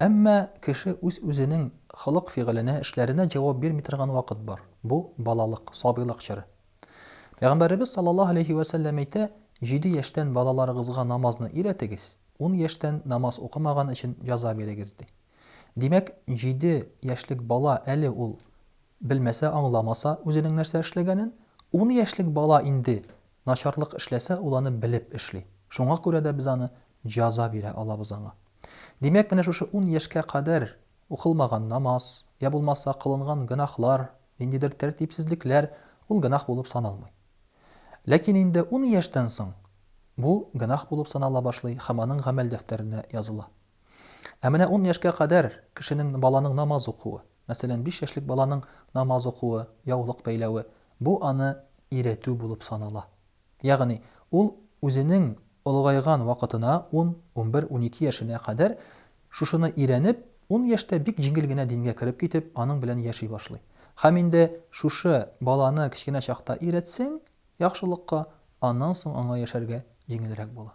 Әмма кеше үз-үзенең холык-фигыленә, эшләренә җавап бирми торган вакыт бар, бу, балалык, сабыйлык чоры. Пәйгамбәребез саллаллаһу галәйһи вә сәлләм әйтә, Җиде яшьтән балаларыгызга намазны өйрәтегез, ун яшьтән намаз укымаган өчен җәза бирегез, ди. Димәк, җиде яшьлек бала әле ул белмәсә, аңламаса үзенең нәрсә эшләгәнен, ун яшьлек бала инде Начарлык эшләсә, ул аны белеп эшли. Шуңа күрә дә без аны җаза бирә алабыз аңа. Димәк, менә шушы ун яшькә кадәр укылмаган намаз, йә булмаса кылынган гөнаһлар, ниндидер тәртипсезлекләр, ул гөнаһ булып саналмый. Ләкин инде ун яшьтән соң бу гөнаһ булып санала башлый һәм аның гамәл дәфтәренә языла. Ә менә ун яшькә кадәр кешенең, баланың намаз укуы, мәсәлән, биш яшьлек баланың намаз укуы, яулык бәйләве, Бу аны иретү булып санала. Ягъни, ул үзенең олыгайган вакытына, ун, унбер, унике яшенә кадәр шушыны ирәнеп, ун яшьтә бик җиңел генә дингә кереп китеп, аның белән яши башлый. Һәм инде шушы баланы кечкенә чакта иретсәң яхшылыкка, аннан соң аңа яшәргә җиңелрәк була.